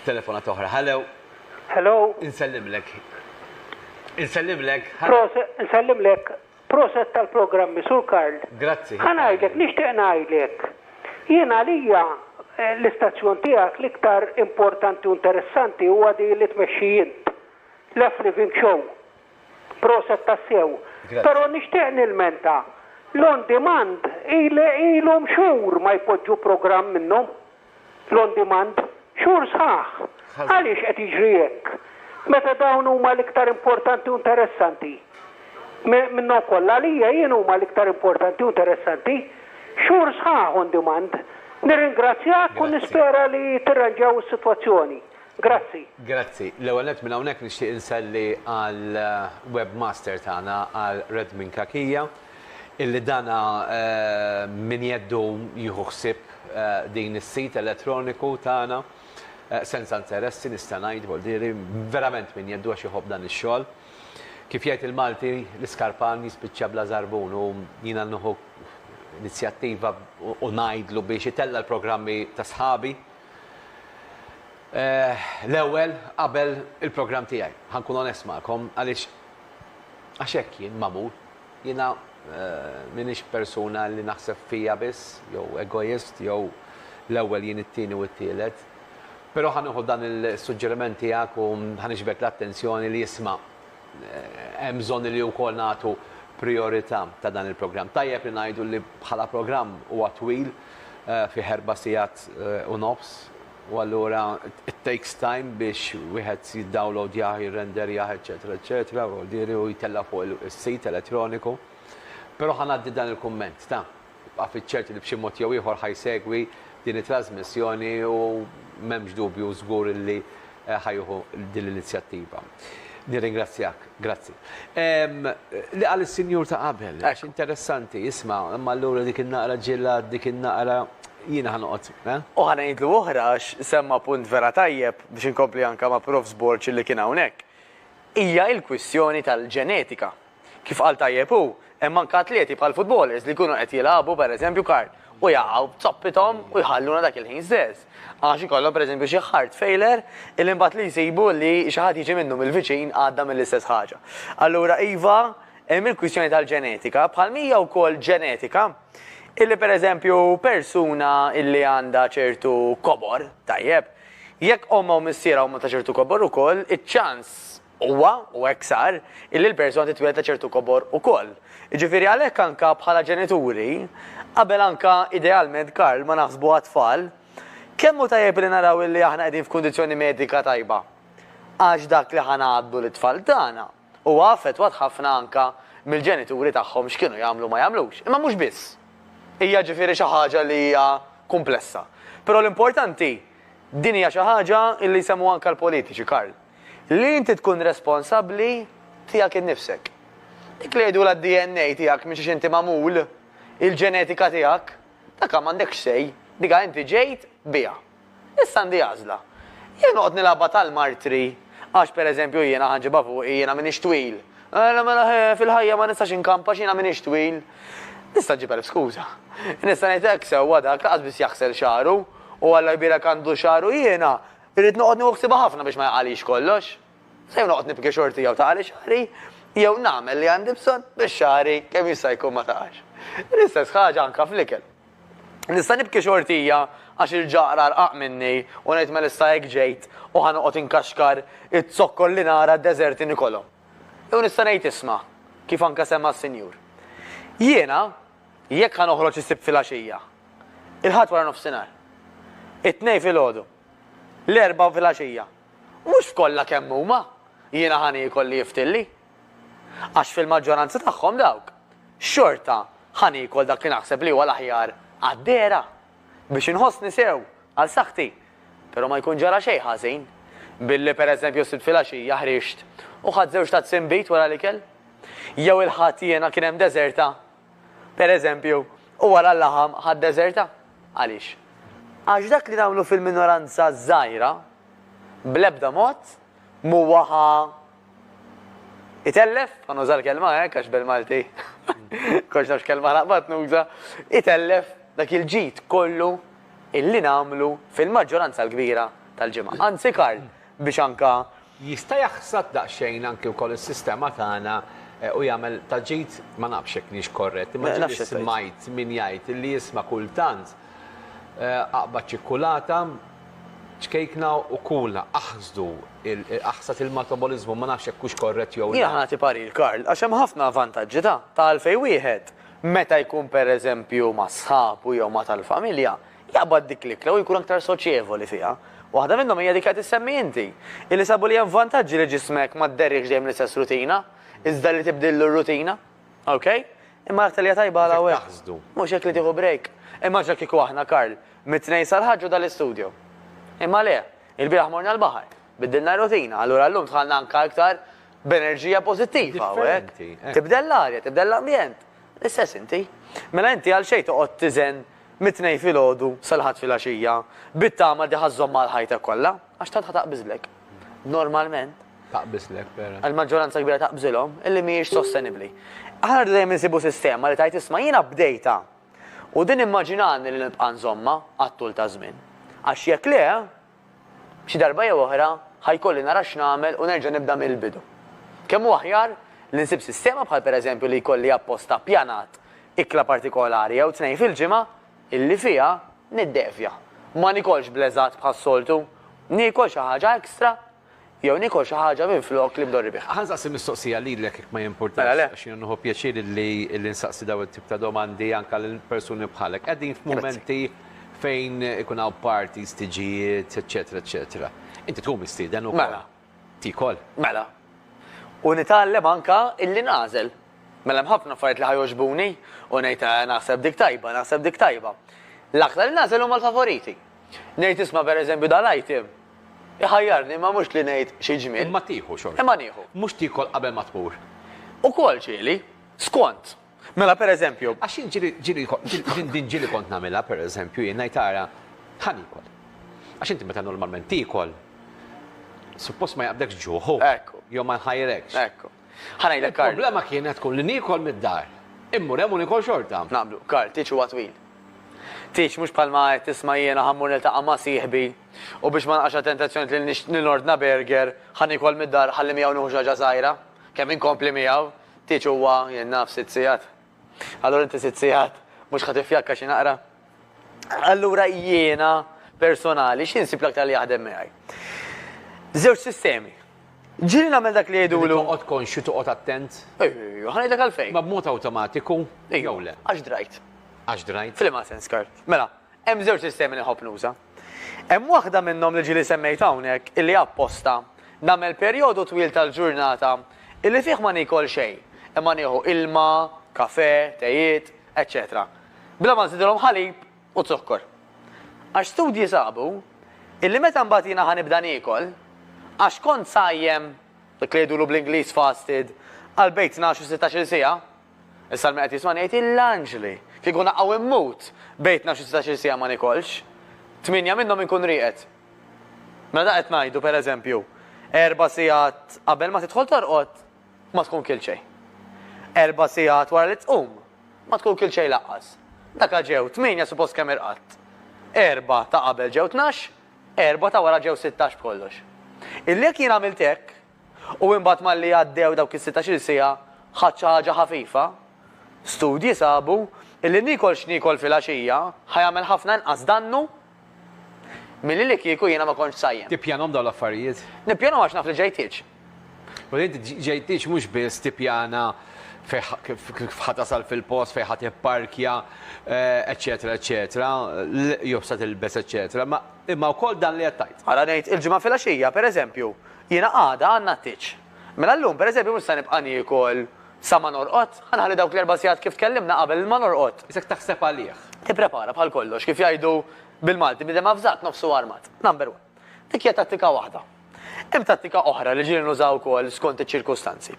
S1: Telefonata oħra. Hello. Hello.
S5: Insellimlek.
S1: Insellimlek.
S5: Proset, insellimlek. Proset tal-programmi, Sur Karl. Grazzi. Ħanajdlek,
S1: nixtieq
S5: ngħidlek. Jien għalija eh, l-istazzjon tiegħek l-iktar importanti u interessanti huwa di li tmexxi int. L-F Living Show. Proset tassew. Pero nixtieq nilmenta. L-on demand ilhom xhur ma jpoġġu programm minnhom. L-on demand. Xhur sħaħ. Għaliex qed jiġri hekk? Meta dawn huma l-iktar importanti u interessanti. Minnhom kollha għalija jien huma l-iktar importanti u interessanti. Xhur sħaħ on demand. Nirringrazzjak u nispera li tirranġaw is-sitwazzjoni. Grazzi. Grazzi. L-ewwel
S1: nett minn hawnhekk nixtieq inselli għal webmaster tagħna għal Red Minn Kakija illi dan minn jeddu jieħu ħsieb din is-sit elettroniku tagħna senza interessi nista' ngħid boldieri verament minn jeddu għax iħobb dan ix-xogħol. Kif jgħid il-Malti l-iskarpan jispiċċa bla żarbun u jiena nieħu inizjattiva u ngħidlu biex itella' l-programmi ta' sħabi L-ewwel, qabel il-programm tiegħi, ħa nkun onest magħkom, għaliex għax hekk jien magħmul. Jiena m'iniex persuna li naħseb fija biss, jew egoist, jew l-ewwel jien it-tieni u t-tielet. Però ħa nieħu dan is-suġġeriment tiegħek u ħa niġbed l-attenzjoni li isma' hemm bżonn li wkoll nagħtu prijorità ta' dan il-programm. Tajjeb li ngħidu li bħala programm huwa twil, fih erba' sigħat u nofs, u allura it takes time biex wieħed jiddawlowdjah, jirrenderjah, eċċetera eċċetera, u jtella' fuq is-sit elettroniku. Però ħa ngħaddi dan il-kumment ta'. Ibqa' fiċ-ċert li b'xi mod jew ieħor ħa jsegwi din it-trażmissjoni u m'hemmx dubju żgur li ħa jieħu din l-inizjattiva. Nirringrazzjak. Grazzi. Ehm, li qal is-sinjur ta' qabel, għax interessanti, isma', imma allura dik in-naqra ġilla, dik in-naqra jiena ħanoqgħod, eh? U ħa ngħidlu
S2: oħra għax semma punt vera tajjeb biex inkompli anke ma' Prof. Borg li kien hawnhekk. Hija l-kwistjoni tal-ġenetika. Kif qal tajjeb hu, hemm anke atleti bħal futbolers li jkunu qed jilagħbu, per eżempju, kart u jaqgħu b'zoppithom u jħalluna dak il-ħin stess. Għax ikollhom per eżempju xi heart failure illi imbagħad li jsibu li xi ħadd jiġi minnhom il-viċin għadda mill-istess ħaġa. Allura iva, hemm il-kwistjoni tal-ġenetika, bħalma hija wkoll ġenetika illi per eżempju persuna illi għandha ċertu kobor, tajjeb, jekk ommha u missierha huma ta' ċertu kobor ukoll, iċ-ċans Huwa, u hekk sar, illi l-persuna titwieled ta' ċertu kobor ukoll. Jiġifieri għalhekk anka bħala ġenituri, qabel anka idealment Karl ma naħsbu għat-tfal, kemm hu tajjeb illi naraw illi aħna qegħdin f'kundizzjoni medika tajba. Għax dak li ħa ngħaddu lit-tfal tagħna huwa affettwat ħafna anka mill-ġenituri tagħhom x'kienu jagħmlu u ma jagħmlux. Imma mhux biss. Hija ġifieri xi ħaġa li hija kumplessa. Però l-importanti, din hija xi ħaġa illi jsemmu anka l-politiċi, Karl. Li inti tkun responsabbli tiegħek innifsek. Dik li jgħidulha d-DNA tiegħek minn xiex inti magħmul, il-ġenetika tiegħek, dakha m'għandekx say, dikha inti ġejt biha. Issa għandi għażla. Jew noqgħod nilgħabha tal-martri, għax per eżempju jiena ħa nġibha fuqi, jiena m'iniex twil. Mela mela ħe, fil-ħajja ma nistax inkamp għax jiena m'iniex twil. Nista' nġib elf skuża. Nista' ngħid hekk sewwa dak lanqas biss jaħsel xagħru, u Alla jbierek għandu xagħru jiena, Irrid noqgħod nieħu ħsiebha ħafna biex ma jaqagħlix kollox. Se jew noqgħod nibki xorti jew taqagħli xagħri, jew nagħmel li għandi bżonn biex xagħri kemm jista' jkun ma taqax. L-istess ħaġa anke fl-ikel. Nista' nibki xortija għax il-ġaqra rqaq minni u ngħid mela issa hekk ġejt u ħa noqgħod inkaxkar iz-zokkor li nara d-deżert inikolhom. Jew nista' ngħid isma', kif anke semma s-Sinjur. Jiena Jekk ħa noħroġ is-Sibt filgħaxija, il-Ħadd waranofsinhar, it-Tnejn filgħodu, l-Erbgħa filgħaxija, mhux f'kollha kemm huma jiena ħa niekol li jiftilli. Għax fil-maġġoranza tagħhom dawk, xorta ħa niekol dak li naħseb li huwa l-aħjar għad-dehra. biex inħossni sew għal saħħti, però ma jkun ġara xejn ħażin billi pereżempju s-Sibt filgħaxija ħriġt u ħadt żewġ tazzi nbid wara l-ikel? Jew il-Ħadd jiena kien hemm deżerta, pereżempju, u wara l-laħam ħadt deżerta? Għaliex? Għax dak li nagħmlu fil-minoranza żgħira bl-ebda mod M'huwa ħa itellef, ħa nuża l-kelma hekk għax bil-Malti kollox nafx kelma naqbad nuża, itellef dak il-ġid kollu illi nagħmlu fil-maġġoranza l-kbira tal-ġimgħa. Anzi Karl, biex anke. Jista' jaħsad
S1: daqsxejn anke wkoll is-sistema tagħna u jagħmel ta' ġid, ma nafx jekk niex korrett, imma ġieli smajt min jgħid li jisma' kultant aqbad ċikkulata, Ċkejkna u kulna aħsdu aħsad il-mataboliżmu, ma nafx jekk hux korrett jew le. Jiena ħa nagħti parir Karl,
S2: għax hemm ħafna vantaġġi ta' ta' għalfejn wieħed meta jkun pereżempju ma' sħabu jew ma' tal-familja, jaqbad dik l-ikla u jkun aktar soċjevoli fiha. Waħda minnhom hija dik li qed issemmi inti, illi sabu li hemm vantaġġi li ġismek ma dderriehx dejjem l-istess rutina, iżda li tibdillu r-rutina. Ok, imma l-aktar li hija tajba għal hawn. Mhux hekk li tieħu break. Immaġina kieku aħna, Karl, mit-Tnejn sal-Ħadd ġo dal-istudio. Imma le, ilbieraħ morna l-baħar, biddilna r-rutina, allura llum dħalna anke iktar b'enerġija pożittiva hawnhekk. Tibdel l-arja, tibdel l-ambjent. L-istess inti. Mela inti għalxejn toqgħod tiżen mit-Tnejn filgħodu sal-Ħadd filgħaxija, bit-tama li ħa żżomm għal ħajtek kollha, għax tant ħa taqbiżlek. normalment taqbislek
S1: vera. Il-maġġoranza kbira taqbżilhom
S2: illi mhijiex sostenibbli. Aħna rridu dejjem insibu sistema li tajt isma' jiena bdejta u din immaġinani li nibqa' nżomma għat-tul ta' żmien. Għax jekk le, xi darba jew oħra ħajkolli nara x'nagħmel u nerġa' nibda mill-bidu. Kemm hu aħjar li nsib sistema bħal pereżempju li jkolli apposta ppjanat ikla partikolari jew tnejn fil-ġimgħa Illi fiha niddevja. Ma niekolx bl-eżatt bħas-soltu. Niekol xi ħaġa extra jew niekol xi ħaġa minflok li ndorri biha. Ħa nsaqsi mistoqsija lilek
S1: jekk ma jimpurtax, għax jiena nieħu pjaċir li nsaqsi dawn it-tip ta' domandi anke lil persuni bħalek. Qegħdin f'mumenti fejn ikun hawn parties, tiġijiet, eċċetera, eċċetera. Inti tkun mistieden ukoll. Tiekol. Mela.
S2: U nitgħallem anke illi nagħżel. Mela hemm ħafna affarijiet li ħa jogħġbuni u ngħid eh naħseb dik tajba, naħseb dik tajba. L-aktar li nagħżel huma l-favoriti. Ngħid isma' pereżempju dal-item iħajjarni imma mhux li ngħid xi ġmiel. Imma tieħu xorta. Imma
S1: nieħu. Mhux tiekol
S2: qabel ma
S1: tmur. Ukoll
S2: ġieli, skont. Mela, per eżempju. Għax jien ġieli,
S1: ġieli, din, din ġieli kont nagħmilha, per eżempju, jien ngħid ara, ħa niekol. Għax inti meta normalment tiekol, suppost ma jaqbdekx ġuħ, hu. Ekku. Jew ma
S2: jħajrekx.
S1: Ekku. Ħa
S2: ngħidlek, Karl. Il-problema kienet tkun li
S1: niekol mid-dar. Immur hemm u niekol xorta. Naqblu. Karl, tieġ huwa
S2: twil. Tieġ mhux bħalma qed tisma' jiena ħa mmur niltaqa' ma' sieħbi u biex ma naqax għat-tentazzjoni li nix, li nordna burger, ħa niekol mid-dar, ħalli miegħu nieħu xi ħaġa żgħira. Kemm inkompli miegħu. Tieġ huwa, jien naf, sitt sigħat. Allura inti sitt sigħat mhux ħa tiffjakka xi naqra? Allura jiena personali xi nsib l-aktar li jaħdem miegħi? Żewġ sistemi. Ġieli nagħmel dak li jgħidulu. Toqgħod konxju toqgħod
S1: attent. Ejju, ħa ngħidlek
S2: għalfejn. Ma b'mod awtomatiku
S1: jew le. Għax drajt.
S2: Għax drajt. F'liema
S1: sens, Karl? Mela,
S2: hemm żewġ sistemi li nħobb nuża. Hemm waħda minnhom li ġieli semmejt hawnhekk illi apposta nagħmel perjodu twil tal-ġurnata illi fih ma niekol xejn imma nieħu ilma, kafè, tejiet, eċċetera bla ma nżidilhom ħalib u zokkor. Għax studji sabu illi meta mbagħad jiena ħa nibda niekol, għax kont sajjem, dak li jgħidulu bl-Ingliż fasted, għal bejn tnax u sittax-il siegħa, Issa l-min qed jismani jgħid il-anġli! Kieku naqgħu immut, bejtna xi setax-il siegħa ma nikolx. Tmienja minnhom inkun rieqed. Mela dak qed ngħidu, per eżempju, erba' siegħat qabel ma tidħol torqod, ma tkun kilt xejn. Erba' siegħat wara li tqum, ma tkun kilt xejn laqqas. Daka ġew tmienja suppost kemm irqadt. Erba' ta' qabel ġew tnax, erba' ta' wara ġew sittax b'kollox. Illi jekk jien għamilt hekk, U imbagħad malli għaddew dawk is-sittax-il siegħa ħadt xi ħaġa ħafifa. Studji sabu li niekol x'niekol filgħaxija ħa jagħmel ħafna inqas dannu milli li kieku jiena ma kontx sajjem. Tippjanahom dawn l-affarijiet?
S1: Nippjanahom għax naf li
S2: ġejtiex. U inti
S1: ġejtiex mhux biss tippjana kif ħa tasal fil-post, fejn ħa tipparkja, eċċetera eċċetera, l-qjofs ta' tilbes eċċetera, imma wkoll dan li qed tgħid. Ara ngħid, il-Ġimgħa filgħaxija,
S2: pereżempju, Jiena għada għandna t-tieġ. Mela llum, per eżempju, mhux se nibqa' niekol sa ma norqod. Ħa nħalli dawk l-erba' sigħat kif tkellimna qabel ma norqod. Isek taħseb għalih.
S1: Tipprepara bħal kollox,
S2: kif jgħidu bil-Malti, bniedem avżat nofsu armat. Number one. Dik hija tattika waħda. Hemm tattika oħra li ġieli nuża wkoll skont iċ-ċirkustanzi.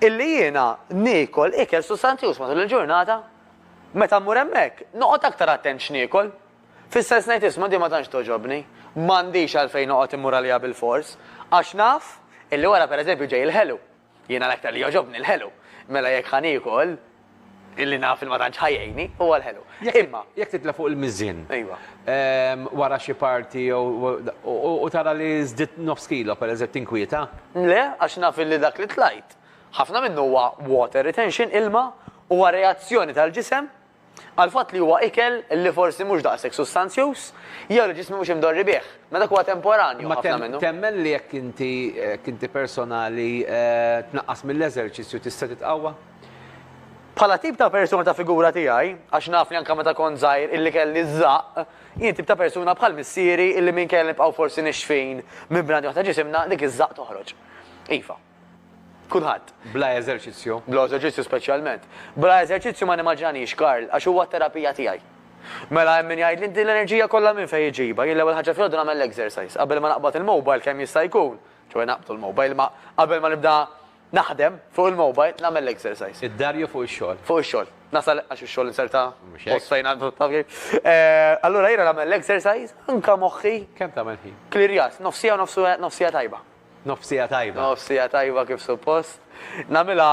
S2: Illi jiena niekol ikel sustanzjuż matul il-ġurnata. Meta mmur hemmhekk, noqgħod aktar attent x'niekol. Fis-sens ngħid isma' din ma tantx togħġobni, m'għandix għalfejn noqgħod immur għaliha bilfors, għax naf illi wara pereżempju ġej il-ħelu. Jiena l-aktar li jogħġobni l-ħelu. Mela jekk ħa niekol, illi naf li ma tantx ħa jgħinni, huwa l-ħelu. Imma. Jekk titla' fuq il-miżien.
S1: Ejwa.
S2: Wara
S1: xi party jew u tara li żdidt nofs kilo pereżempju tinkwieta? Le, għax naf
S2: illi dak li tlajt, ħafna minnu huwa water retention, ilma, huwa reazzjoni tal-ġisem għall-fatt li huwa ikel li forsi mhux daqshekk sustanzjuż jew li ġismi mhux imdorri bih, ma dak huwa temporanju ħafna minnu. Ma temmen li jekk inti
S1: jekk inti personali tnaqqas mill-eżerċizzju tista' titqawwa?
S2: Bħala tip ta' persuna ta' figura tiegħi, għax naf li anke meta kont żgħir illi kelli ż-żaqq, jien tip ta' persuna bħal missieri illi minkejja li nibqgħu forsi nixfin minn bnadi waħda ġisimna, dik iż-żaqq toħroġ. Iva. Kulħadd. Bla eżerċizzju.
S1: Bla eżerċizzju speċjalment.
S2: Bla eżerċizzju ma nimmaġinaniex Karl, għax huwa t-terapija tiegħi. Mela hemm min jgħidli din l-enerġija kollha minn fejn iġibha, jien l-ewwel ħaġa filgħodu nagħmel l-exercise, qabel ma naqbad il-mobile kemm jista' jkun, ċoe naqbdu l-mobile, imma qabel ma nibda naħdem fuq il-mobile nagħmel l-exercise. Id-dar jew fuq ix-xogħol?
S1: Fuq ix-xogħol. Nasal
S2: għax ix-xogħol inserta post fejn għandu taf kif. Eh, allura jiena nagħmel l-exercise, anka moħħi. Kemm tagħmel ħin?
S1: Klirjas, nofsija
S2: u nofsija tajba. Nofsija tajba.
S1: Nofsija tajba kif
S2: suppost. Nagħmilha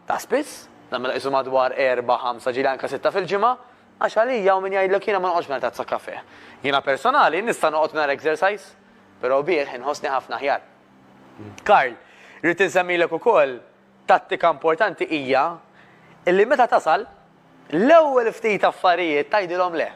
S2: ta' spiss, nagħmilha qisu madwar erbgħa, ħamsa, ġieli anke sitta fil-ġimgħa, għax għalija hawn min jgħidlek jiena ma noqgħodx mingħajr tazza kafè. Jiena personali nista' noqgħod mingħajr exercise, però bih inħossni ħafna aħjar. Karl, rrid insemmilek ukoll, Tattika importanti hija li meta tasal, l-ewwel ftit affarijiet tgħidilhom le.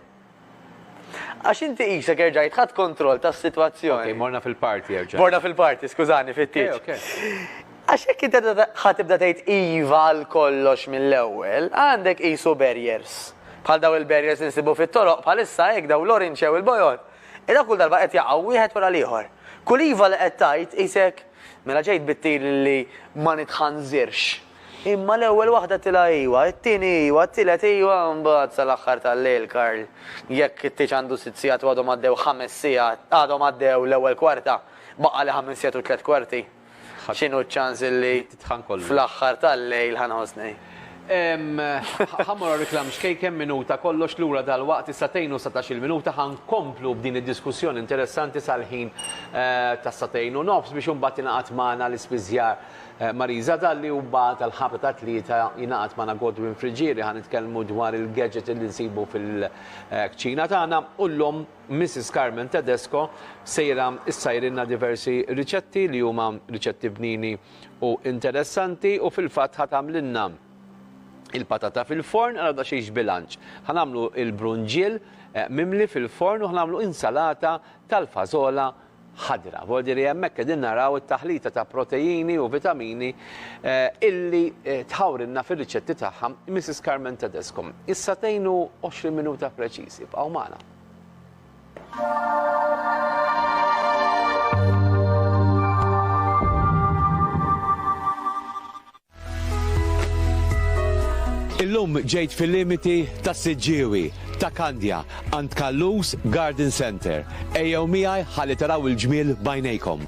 S2: Għax inti qisek erġajt ħadt kontroll tas-sitwazzjoni. Okej, morna fil-party
S1: erġajna. Morna fil-party, skużani,
S2: fit-tieġ. Okej, okej. Għax jekk inti ħa tibda tgħid iva għal kollox mill-ewwel, għandek qisu barriers. Bħal dawn il-barriers li nsibu fit-toroq bħalissa hekk dawn l-orinċe u l-bojod. Dawn kull darba qed jaqgħu wieħed wara l-ieħor. Kull iva li qed tgħid qisek Mela ġejt bit-tir li ma nitħanżirx. Imma l-ewwel waħda tilha iwa, it-tieni iwa, t-tielet iwa, mbagħad sal-aħħar tal-lejl Karl, jekk it-tieġ għandu sitt sigħat u għadhom għaddew ħames sigħat, għadhom għaddew l-ewwel kwarta, baqgħali ħames sigħat u tliet kwarti, x'inhu ċ-ċans li fl-aħħar tal-lejl ħa nħossni? Ħa mmur
S1: għar-reklam xkejk hemm minuta kollox lura dalwaqt is-sagħtejn u satax-il minuta ħa nkomplu b'din id-diskussjoni interessanti sal-ħin tas-sagħtejn u nofs biex imbagħad tingħaqad magħna l-ispiżjar Marisa Dalli u mbagħad għall-ħabta tat-tlieta jingħaqad magħna Godwin Friggieri ħa nitkellmu dwar il-gadget li nsibu fil-kċina tagħna u llum Missis Carmen Tedesco sejra ssajrilna diversi riċetti li huma riċetti bnini u interessanti u fil-fatt ħa tagħmlilna il-patata fil-forn għal daqsxejn xbilanċ. Ħa nagħmlu il-brunġiel eh, mimli fil-forn u ħa nagħmlu insalata tal-fażola ħadra. Vordiri hemmhekk qegħdin naraw it-taħlita ta' proteini u vitamini eh, illi eh, tħawrinna fir-riċetti tagħha Mrs. Carmen Tedesco. Issa tgħinu 20 minuta preċiż, ibqgħu magħna. Illum ġejt fil-limiti ta' Siġġiewi, ta' Kandja, għand Kallus Garden Center. Ejjew miegħi ħalli taraw il-ġmiel bajnejkom.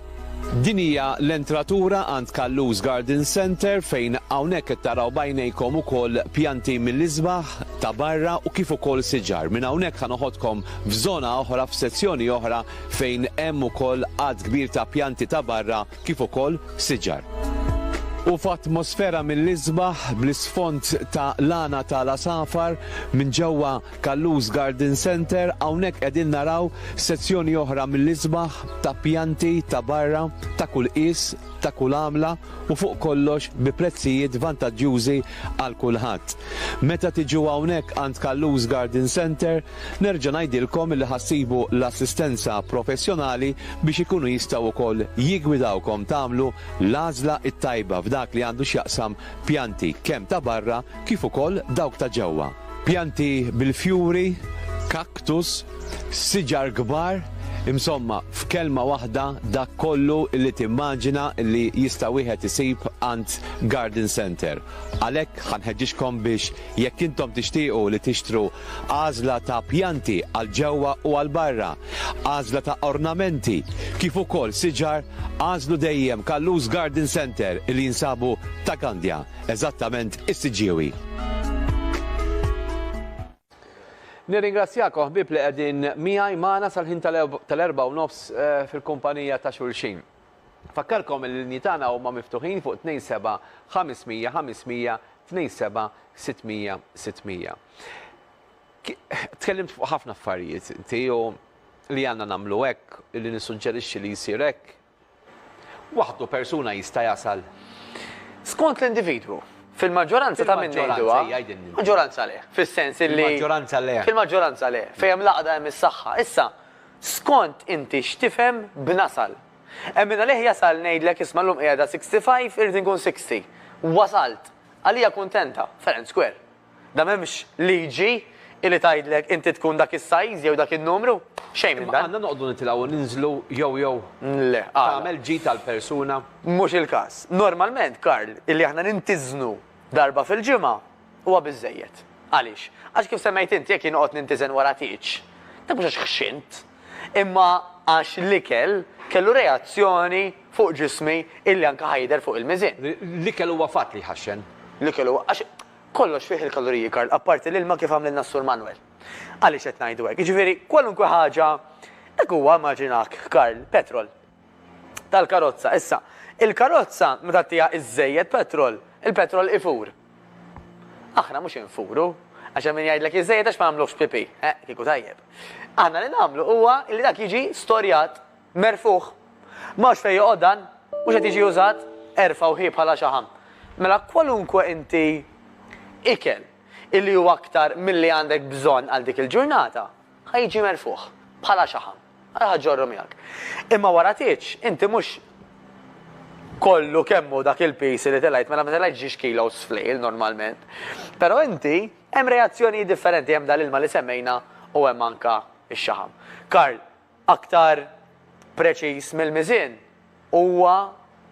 S1: Din hija l-entratura għand Callus Garden Centre fejn hawnhekk qed taraw b'għajnejkom ukoll pjanti mill-isbaħ ta' barra u kif ukoll siġar. Minn hawnhekk ħa noħodkom f'żona oħra, f'sezzjoni oħra fejn hemm ukoll għadd kbir ta' pjanti ta' barra kif ukoll siġar. U f'atmosfera mill-isbaħ bl-isfond ta' lana ta' l-għasafar minn ġewwa Callus Garden Centre, hawnhekk qegħdin naraw sezzjoni oħra mill-isbaħ ta' pjanti ta' barra ta' kull qies, ta' kull għamla u fuq kollox bi prezzijiet vantaġġjużi għal kulħadd. Meta tiġu hawnhekk għand Callus Garden Centre, nerġa' ngħidilkom li ħa ssibu l-assistenza professjonali biex ikunu jistgħu wkoll jiggwidawkom tagħmlu l-għażla t-tajba f'dak li għandu x'jaqsam pjanti kemm ta' barra kif ukoll dawk ta' ġewwa. Pjanti bil-fjuri, cactus, siġar kbar, insomma, f'kelma waħda dak kollu li timmaġina li jista' wieħed isib għand garden centre. Għalhekk ħa nħeġġiġkom biex jekk intom tixtiequ li tixtru għażla ta' pjanti għal ġewwa u għal barra, għażla ta' ornamenti, kif ukoll siġar, għażlu dejjem Kallus Garden Centre li jinsabu ta' Gandja. Eżattament is-siġġiewi. Nirringrazzjakom ħbieb li qegħdin miegħi magħna sal-ħin tal-erbgħa u nofs fil-kumpanija ta' xulxin. Nfakkarkom li l-linji tagħna huma miftuħin fuq 27 500 500, 27 600 600. Tkellimt fuq ħafna affarijiet inti u li għandna nagħmlu hekk, li nissuġġerixxi li jsir hekk, waħdu persuna jista' jasal. Skont
S2: l-individwu. Fil-maġġoranza ta' min ngħiduha, maġġoranza le, fis-sens li. Fil-maġġoranza le.
S1: Fil-maġġoranza le, fejn hemm
S2: l-għaqda hemm is-saħħa. Issa, skont inti x'tifhem b'nasal. Hemm min għalih jasal ngħidlek isma' llum qiegħda 65 irrid inkun 60. Wasalt. Għalija kuntenta. Fair and square. Da m'hemmx liġi illi tgħidlek inti tkun dak is-size jew dak in-numru. Xejn minn dan. Imma għandna noqogħdu nitilgħu u
S1: ninżlu jew jew Le, għala?
S2: tagħmel ġid
S1: għall-persuna? Mhux il-każ.
S2: Normalment, Karl, illi aħna nintiżnu darba fil-ġimgħa huwa biżżejjed. Għaliex? Għax kif semmejt inti jekk jien noqgħod nintiżen wara tieġ, dak mhux għax ħxint. imma għax l-ikel kellu reazzjoni fuq ġismi illi anke ħa jidher fuq il-miżien. L-ikel huwa fatt
S1: li jħaxxen. L-ikel huwa, għax
S2: kollox fih il-kaloriji, Karl, apparti l-ilma kif għamlilna s-Sur Manwel. Għaliex qed ngħidu hekk? Jiġifieri kwalunkwe ħaġa, hekk huwa, immaġina hekk, Karl, petrol. tal-karozza. Issa, il-karozza meta ttiha iżżejjed petrol, il-petrol ifur. Aħna mhux infuru, għax hemm min jgħidlek iżżejjed għax ma nagħmluhx pipì. Eh, kieku tajjeb. Aħna li nagħmlu huwa li dak jiġi storjat, merfuħ. M'hawnx fejn joqgħod dan, mhux qed jiġi użat, erfgħu ħi bħala xaħam. Mela kwalunkwe inti ikel illi huwa aktar milli għandek bżonn għal dik il-ġurnata, Ħa jiġi merfugħ, bħala xaħam. Ara ħa ġġorru miegħek. Imma wara tgħidx, inti mhux kollu kemm hu dak il-piż li telgħet, mela ma telgħetx ġiex kilos f'lejl normalment. Però inti hemm reazzjonijiet differenti, hemm dal-ilma li semmejna u hemm anke x-xaħam. Karl, aktar preċiż mill-miżien, huwa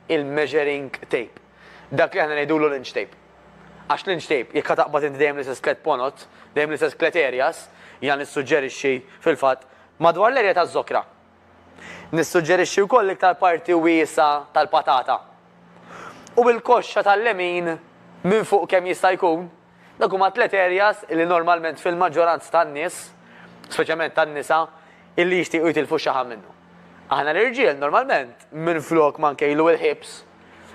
S2: il-measuring tape, dak li aħna ngħidulu l-inch tape. Għax l-inch tape, jekk ħa taqbad inti dejjem l-istess tliet ponot, dejjem l-istess tliet areas, jiena nissuġġerixxi, fil-fatt, madwar l-area taż-żokra. Nissuġġerixxi wkoll l-iktar parti wiesgħa tal-patata. U l-koxxa tal-lemin minn fuq kemm jista' jkun. Dawk huma tliet areas illi normalment fil-maġġoranza tan-nies, speċjalment tan-nisa, illi jixtiequ jitilfu x-xaħam minnhom. Aħna l-irġiel normalment minflok ma nkejlu il-hips,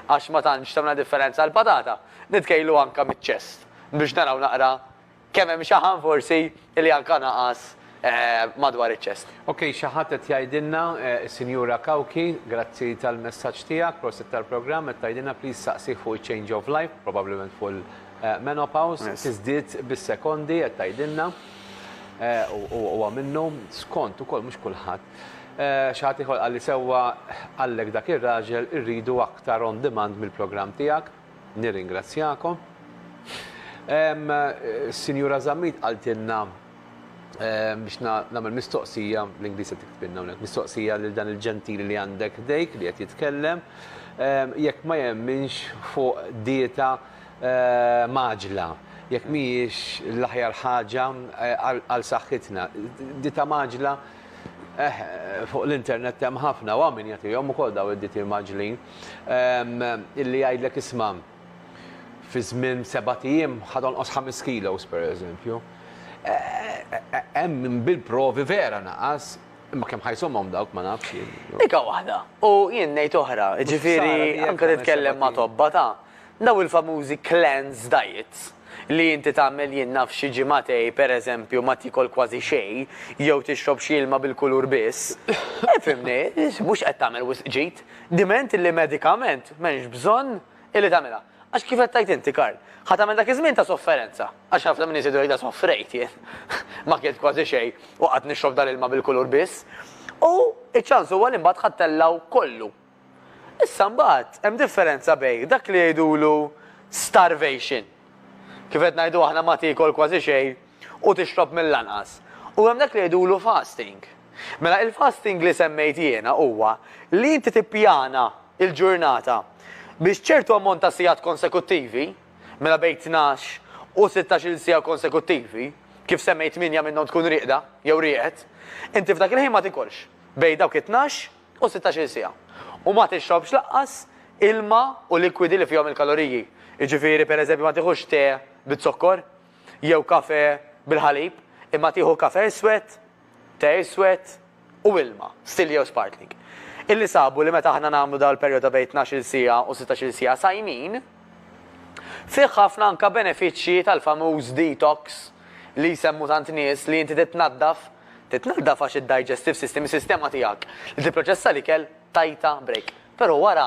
S2: għax ma tantx tagħmilna differenza l-patata, nitkejlu anke miċ-chest biex naraw naqra kemm hemm xaħam forsi Li anka naqas madwar iċ-ċest. Ok xi ħadd qed
S1: jgħidilna, is-Sinjura Cauchi, grazzi tal-messaġġ tiegħek, prosit tal-programm, qed tgħidilna please saqsih fuq iċ-change of life, probabbilment fuq il-menopause, tiżdied bis-sekondi qed tgħidilna. U huwa minnu, skont ukoll mhux kulħadd. Xi ħadd ieħor qalli sewwa, qallek dak ir-raġel irridu aktar on demand mill-programm tiegħek. Nirringrazzjakom. Sinjura Zammit qaltilna biex nagħmel mistoqsija, l-Ingliż qed tiktbilna hawnhekk, mistoqsija lil dan il-ġentili li għandek ħdejk li qed jitkellem, jekk ma jemminx fuq dieta mgħaġġla, jekk mhijiex l-aħjar ħaġa għal saħħitna. Dieta mgħaġġla Eh, fuq l-internet hemm ħafna u hawn min jagħtihom ukoll daw id-diti maġlin. Ehm, illi jgħidlek isma' fi żmien seba' ijiem ħadonqos ħames kilos pereżempju. Eh, eh, hemm bil-provi vera naqas, imma kemm ħajsomhom dawk ma nafx. Dika waħda.
S2: U jien ngħid oħra, ġifieri anke titkellem ma' tobba ta' Dawn il-famużi cleanse diets, li inti tagħmel jien naf xi ġimagħtej, per eżempju, ma tiekol kważi xejn, jew tixrob xi ilma bil-kulur biss, ifhimni, mhux qed tagħmel wisq ġid, diment illi medikament m'hemmx bżonn illi tagħmilha. Għax kif qed tgħid inti, Karl, ħa tagħmel dak iż-żmien ta' sofferenza, għax ħafna min iżid u jgħidha soffrejt jien, ma kilt kważi xejn u qgħadt nixrob dal-ilma bil-kulur biss, u ċ-ċans huwa li mbagħad ħa ttellgħu kollu, Issa mbagħad hemm differenza bejn dak li jgħidulu starvation, kif qed ngħidu aħna ma tiekol kważi xejn u tixrob mill-anqas, u hemm dak li jgħidulu fasting. Mela il-fasting li semmejt jiena huwa li inti tippjana l-ġurnata biex ċertu ammont ta' sigħat konsekuttivi, mela bejn tnax u sittax-il siegħa konsekuttivi, kif semmejt tmienja minnhom tkun rieqda jew rieqed, inti f'dak il-ħin ma tikolx bejn dawk it-tnax u sittax-il siegħa. U ma tixrobx lanqas ilma u likwidi li fihom il-kaloriji. Jiġifieri, per eżempju, ma tieħux te biz-zokkor jew kafè bil-ħalib, imma tieħu kafè iswed, te iswed u ilma, stil jew sparkling. Illi sabu li meta aħna nagħmlu dan il-perjodu ta' bejn tnax-il siegħa u sittax-il siegħa sajmin, fih ħafna anke benefiċċji tal-famuż detox li jsemmu tant nies li inti titnaddaf, Titnaddaf għax id-digestive system, is-sistema tiegħek li tipproċessa l-ikel, tajtha break. Però wara,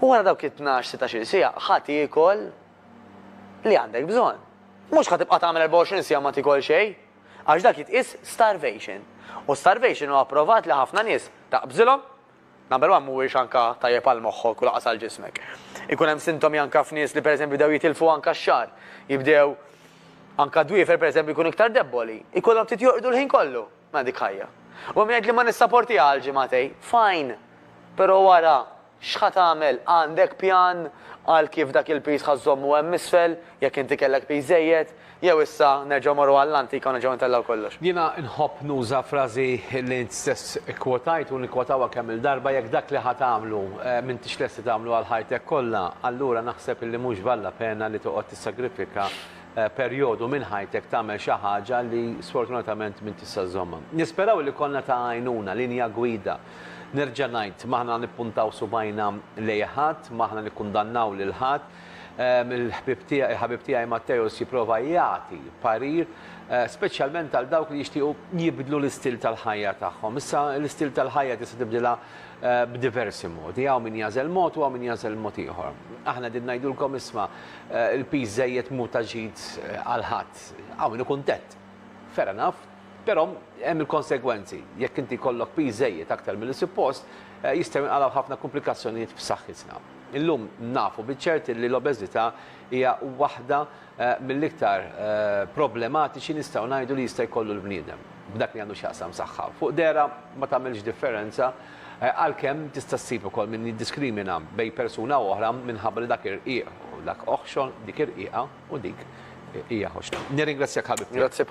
S2: u wara dawk it-tnax, sittax-il siegħa, ħa tiekol li għandek bżonn. Mhux ħa tibqa' tagħmel 24 siegħa ma tiekol xejn, għax dak jitqies starvation. U starvation hu approvat li ħafna nies taqbżilhom, Number one mhuwiex anka tajjeb għal moħħok u lanqas għal ġismek. Ikun hemm sintomi anka f'nies li pereżempju bdew jitilfu anka x-xagħar, jibdew anka d-dwiefer pereżempju jkunu iktar debboli, ikollhom ftit jorqdu l-ħin kollu. Mela dik ħajja. U hemm min jgħidli ma nissaportiha għal ġimagħtejn. Fine! Però wara x'ħa tagħmel? Għandek pjan għal kif dak il-piż ħa żżommu hemm isfel, jekk inti kellek piż żejjed? Jew issa nerġgħu morru għall-antika u nerġgħu intellgħu kollox? Jiena nħobb nuża
S1: frażi li int stess ikkwotajt u nikkwotawha kemm-il darba, jekk dak li ħa tagħmlu m'intix lest li tagħmlu għal ħajtek kollha, allura naħseb li mhux valla pena li toqgħod tissagrifika perjodu minn ħajtek tagħmel xi ħaġa li sfortunatament m'int tista' żżommha. Nisperaw li konna ta' għajnuna, linja gwida. Nerġa' ngħid, m'aħna nippuntaw subgħajna lejn ħadd, m'aħna nikkundannaw lil ħadd, Il-ħbieb tiegħi, il-ħabib tiegħi Matteus jipprova jagħti parir speċjalment għal dawk li jixtiequ jibdlu l-istil tal-ħajja tagħhom. Issa l-istil tal-ħajja tista' tibdilha b'diversi modi. Hawn min jagħżel mod u hawn min jagħżel mod ieħor. Aħna din ngħidulkom isma' il-piż żejjed mhu ta' ġid għal ħadd. Hawn min ikun tett. Fair enough. Però hemm il-konsegwenzi. Jekk inti jkollok piż żejjed aktar milli suppost, jistgħu jinqalgħu ħafna kumplikazzjonijiet f'saħħitna. Illum nafu biċ-ċert li l-obeżità hija waħda mill-iktar problematiċi nistgħu ngħidu li jista' jkollu l-bniedem, b'dak li għandu x'jaqsam saħħa. Fuq dehra ma tagħmilx differenza, għalkemm tista' ssib ukoll min jiddiskrimina bejn persuna u oħra minħabba li dak irqiq u dak oħxon, dik irqiqa u dik hija ħoxna. Nirringrazzjak ħabib tiegħi.